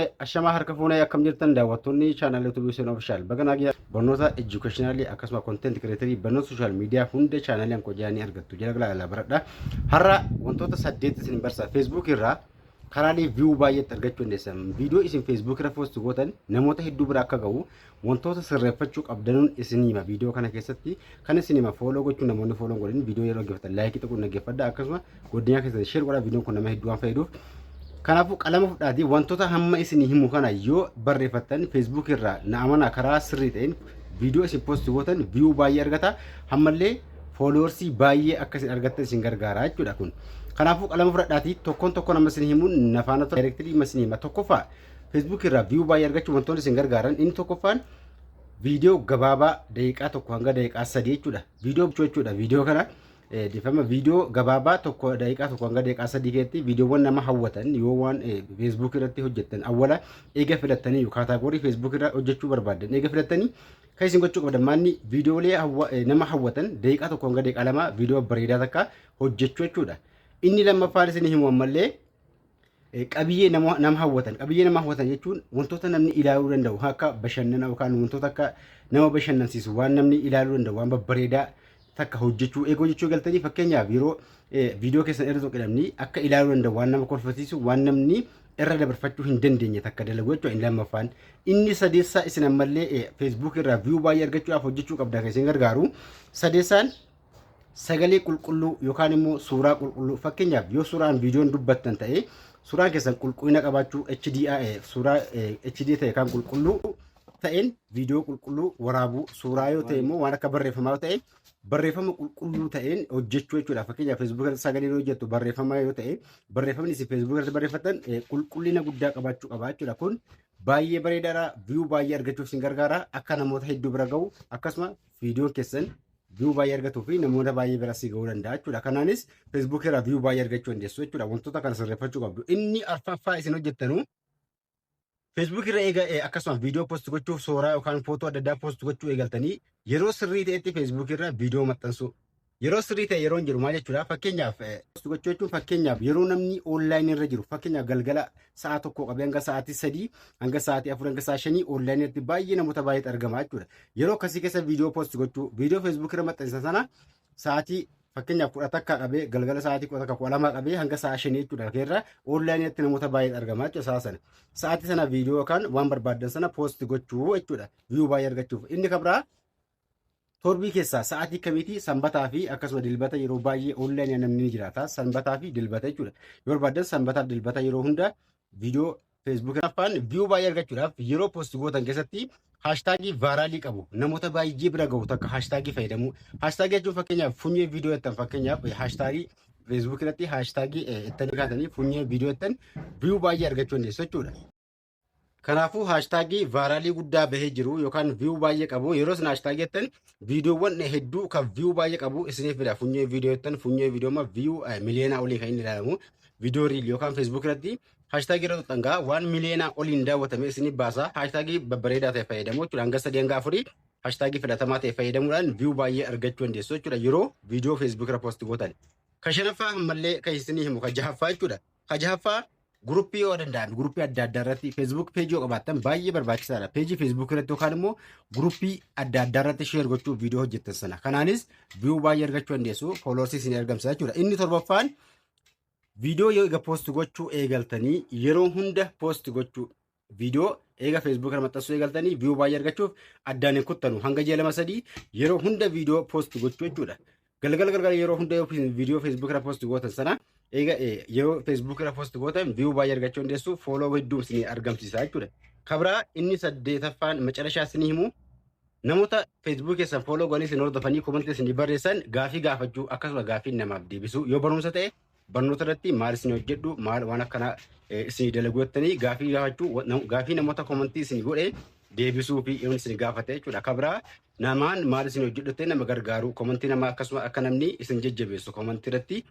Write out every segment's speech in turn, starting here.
Ashamaa harka fuunee akkam jirtan daawwattoonni chaanaal YouTube Hussein Official baga nagaa barnoota educationalii akkasuma content creatorii barnoota social media hunda chaanaaliin koo jaanii argattu jala galaa ilaa baradha. Har'a wantoota saddeet isin barsa Facebook irraa karaalee view baay'eetti argachuu dandeessan viidiyoo isin Facebook irra post gootan namoota hedduu bira akka ga'u Wantoota sirreeffachuu qabdanuun isinii hima viidiyoo kana keessatti kan isin hima fooloo gochuun namoonni fooloo godhin viidiyoo yeroo dhaggeeffatan laayikii tuquun dhaggeeffadha akkasuma godinaa keessatti sheer godhaa viidiyoon kun nama hedduu waan fayyaduuf Kanaafuu qalama fudhaatii wantoota hamma isinii himu kana yoo barreeffattan feesbuuk irraa na amanaa karaa sirrii ta'een viidiyoo isin poosti gootan viyuu baay'ee argata hammallee fooloorsii baay'ee akka isin argattan isin gargaara jechuudha kun. Kanaafuu qalama fudhadhaatii tokkoon tokkoon amma isin himuun nafaana daayirektirii amma isin hima tokkoffaa Facebook irraa view baay'ee argachuuf wantoonni isin gargaaran inni tokkoffaan viidiyoo gabaabaa daqiiqaa tokko hanga daqiiqaa sadii jechuudha. Viidiyoo bichuu jechuudha. Viidiyoo kana eh, dhiifama viidiyoo gabaabaa tokko daqiiqaa tokko hanga daqiiqaa sadii keessatti viidiyoowwan nama hawwatan yoo waan eh, Facebook irratti hojjettan awwala eega filattanii yoo kaataagorii Facebook irra hojjechuu barbaaddan eega filattanii kan isin gochuu qabdan maanni viidiyoolee hawwa- eh, nama hawwatan daqiiqaa tokko hanga daqiiqaa lama viidiyoo bareedaa takka hojjechuu jechuudha. Inni lammaffaan isin himu ammallee Eh, qabiyyee nama nama hawwatan qabiyyee nama hawwatan jechuun wantoota namni ilaaluu danda'u kan akka bashannana yookaan wantoota akka nama bashannansiisu waan namni ilaaluu danda'u waan babbareedaa takka hojjechuu eegoo jechuu galtanii fakkeenyaaf yeroo eh, viidiyoo keessan irra tokko namni akka ilaaluu danda'u waan nama kolfisiisu waan namni irra dabarfachuu hin dandeenye takka dalagu jechuudha inni lammaffaan inni sadeessaa isin ammallee eh, feesbuuk irraa viyuu baay'ee argachuudhaaf hojjechuu qabda kan isin gargaaru sadeessaan sagalee qulqulluu yookaan immoo suuraa qulqulluu fakkeenyaaf yoo suuraan viidiyoon dubbattan ta'e suuraan keessan qulqullina qabaachuu HDI suuraa HD ta'e kan qulqulluu ta'een viidiyoo qulqulluu waraabuu suuraa yoo ta'e immoo waan akka barreeffamaa ta'e barreeffama qulqulluu ta'een hojjechuu jechuudha fakkeenyaaf feesbuuk irratti sagalee yoo hojjettu barreeffama yoo ta'e barreeffamni isin feesbuuk irratti barreeffatan qulqullina guddaa qabaachuu qaba jechuudha kun baay'ee bareedaadha viyuu baay'ee argachuuf isin gargaara akka namoota hedduu bira ga'u akkasuma viidiyoon keessan view baay'ee argatuu fi namoota baay'ee bira si ga'uu danda'a jechuudha. Kanaanis Facebook irraa view baay'ee argachuu dandeessu jechuudha. Wantoota kana sirreeffachuu qabdu. Inni arfaffaa isin hojjettanu Facebook irra eega eh, akkasumas viidiyoo post gochuuf suuraa yookaan footoo adda addaa post gochuu eegaltanii yeroo sirrii ta'etti Facebook irra viidiyoo maxxansuu. Yeroo sirrii ta'e yeroo hin jiru maal jechuudha? Fakkeenyaaf eh, post gochuu jechuun fakkeenyaaf yeroo namni online irra jiru fakkeenyaaf galgala sa'a tokko qabee hanga sa'aatii sadii hanga sa'aatii afur hanga sa'a shanii onlaayinii irratti baay'ee namoota baay'eetu argama jechuudha. Yeroo akkasii keessa viidiyoo poost gochuu viidiyoo feesbuukii irra maxxansan sana sa'aatii fakkeenyaaf kudha takka qabee galgala sa'aatii kudha takka kudha lama qabee hanga sa'a shanii jechuudha keerra onlaayinii irratti namoota baay'eetu argama jechuudha sa'a sana. Sa'aatii sana viidiyoo yookaan waan barbaaddan sana poost gochuu jechuudha. Viyuu baay'ee argachuuf inni kabraa Torbii keessaa sa'aatii kamiitii sanbataa fi akkasuma dilbata yeroo baay'ee online namni ni jiraata. Sanbataa fi dilbata jechuudha. Yoo barbaaddan sanbataa fi dilbata yeroo hunda viidiyoo Facebook afaan viyuu baay'ee argachuudhaaf yeroo post gootan keessatti haashtaagii vaaraalii qabu namoota baay'ee bira gahu takka haashtaagii fayyadamuu. Haashtaagii jechuun fakkeenyaaf funyee viidiyoo jettan fakkeenyaaf haashtaagii Facebook irratti haashtaagii ittanii kaatanii funyee viidiyoo jettan viyuu baay'ee argachuu dandeessu jechuudha. Kanaafuu haashtaagii vaaraalii guddaa bahee jiru yookaan viyuu baay'ee qabu yeroo isin haashtaagii jettan viidiyoowwan hedduu kan viyuu baay'ee qabu isiniif fida funyoo viidiyoo jettan funyoo viidiyooma viyuu miliyoonaa olii kan inni ilaalamu viidiyoo riil yookaan feesbuuk irratti haashtaagii irra tuqxan gaa waan miliyoonaa oliin daawwatame isiniif baasa haashtaagii babbareedaa ta'e fayyadamu jechuudha hanga sadii hanga afurii haashtaagii filatamaa ta'e fayyadamuudhaan viyuu baay'ee argachuu dandeessu jechuudha yeroo viidiyoo feesbuuk irra poosti gootan. Ka shanaffaa ammallee kan isinii himu ka jahaffaa jechuudha. Ka jahaffaa Guruppii yoo danda'ame guruppii adda addaa irratti feesbuuk peejii yoo qabaattan baay'ee barbaachisaadha. Peejii feesbuuk irratti yookaan immoo guruppii adda addaa irratti sheer gochuuf viidiyoo hojjettan sana. Kanaanis viyuu baay'ee argachuu dandeessu fooloorsii isin argamsiisa jechuudha. Inni torbaffaan viidiyoo yoo egaa poosti gochuu eegaltanii yeroo hunda poosti gochuu viidiyoo eega feesbuuk kana maxxansuu eegaltanii viiyuu baay'ee argachuuf addaan hin kuttanu hanga ji'a lama sadii yeroo hunda viidiyoo poost gochuu jechuudha. Galgala galgala yeroo hunda yoo viidiyoo feesbuuk kana poost gootan sana eega yeroo feesbuuk kana poost gootan viiyuu baay'ee argachuu dandeessu fooloo hedduun isin argamsiisa jechuudha. Kabraa inni saddeetaffaan macarashaa isin himu namoota feesbuuk keessan fooloo godhanii isin hordofanii komantii isin barreessan gaafii gaafachuu akkasuma gaafii namaaf deebisuu yoo barumsa ta'e barnoota irratti maal isin hojjedhu maal waan akkanaa isin dalagu jettanii gaafii gaafachuu gaafii namoota komantii isin godhe deebisuu fi yoon isin gaafate jechuudha. Akka biraa namaan maal isin hojjedhu jettee nama gargaaru komantii namaa akkasuma akka namni isin jajjabeessu komantii irratti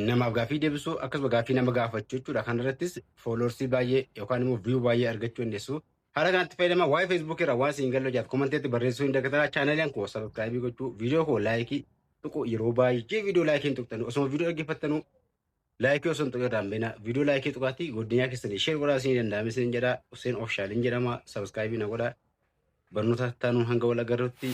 namaaf gaafii deebisuu akkasuma gaafii nama gaafachuu jechuudha. Kan irrattis fooloorsii baay'ee yookaan immoo viyuu baay'ee argachuu dandeessu. Haala kanatti fayyadamaa waa'ee Facebook irraa waan siin galle hojjaaf komanteetti barreessuu hin dagatinaa chaanaliin koo sabiskiraayibii gochuu viidiyoo koo laayikii tuqu yeroo baay'ee viidiyoo laayikii hin tuqtanu osuma viidiyoo dhaggeeffattanuu laayikii osoo hin tuqin irraa hin beena viidiyoo laayikii tuqaatii godinyaa keessanii sheer godhaa siin danda'ame siin jedha Hussein Official hin jedhama sabiskiraayibii na godhaa barnoota taanuun hanga wal agarrutti.